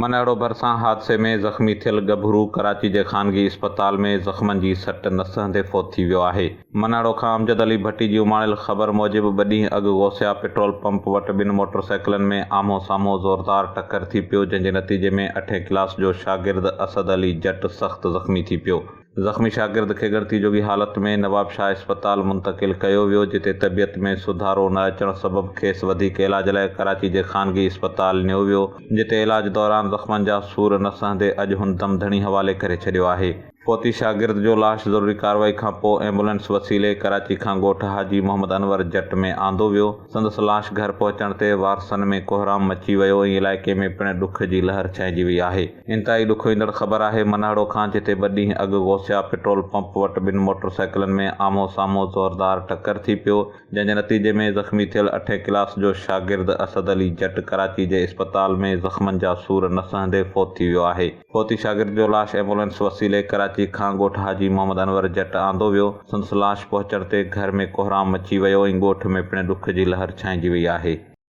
منهڙو ڀرسان حادثي ۾ زخمي ٿيل ڳڀرو ڪراچي جي خانگي اسپتال ۾ زخمن جي سٽ نه سهندي فوت ٿي ويو آهي. منهڙو کان امجد علي ڀٽي جي اماڻيل خبر موجب ٻه ڏينهن اڳ غوثيه پيٽرول پمپ وٽ ٻن موٽر سائيڪلن ۾ آمهون سامهون زوردار ٽڪر ٿي پيو جنهن جي نتيجي ۾ اٺين ڪلاس جو شاگرد اسد علي جٽ سخت زخمي ٿي پيو. زخمي شاگرد کي ڳڻتي جوڳي حالت ۾ نوابشاهه اسپتال منتقل ڪيو ويو جتي طبيعت ۾ سڌارو نه اچڻ سبب کيس وڌيڪ علاج لاء ڪراچي جي خانگي اسپتال نيو ويو جتي علاج دوران زخمن جا سور نه سهندي اڄ هن دم ڌڻي حوالي ڪري ڇڏيو آهي. فوتي شاگرد جو لاش ضروري ڪارروائي کان پوء ايمبولينس وسيلي ڪراچي کان ڳوٺ حاجي محمد انور جٽ ۾ آندو ويو سندس لاش گهر پهچڻ تي وارثن ۾ ڪوهرام مچي ويو ۽ علائقي ۾ پڻ ڏک جي لهر ڇائنجي وئي آهي. انتهائي ڏکوئيندڙ خبر آهي منهڙو کان جتي ٻه ڏينهن اڳ غوثيه پيٽرول پمپ وٽ ٻن موٽر سائيڪلن ۾ آمهون سامهون زوردار ٽڪر ٿي پيو جنهن جي نتيجي ۾ زخمي ٿيل اٺين ڪلاس جو شاگرد اسد علي جٽ ڪراچي جي اسپتال ۾ زخمن جا سور نه سهندي فوت ٿي ويو آهي فوتي شاگرد جو لاش ايمبولينس وسيلي ڪراچي کان ڳوٺ حاجي محمد انور جٽ آندو ويو سندس لاش پهچڻ تي گهر ۾ ڪوهرام مچي ويو ۽ ڳوٺ ۾ پڻ ڏک جي لهر ڇائنجي وئي آهي.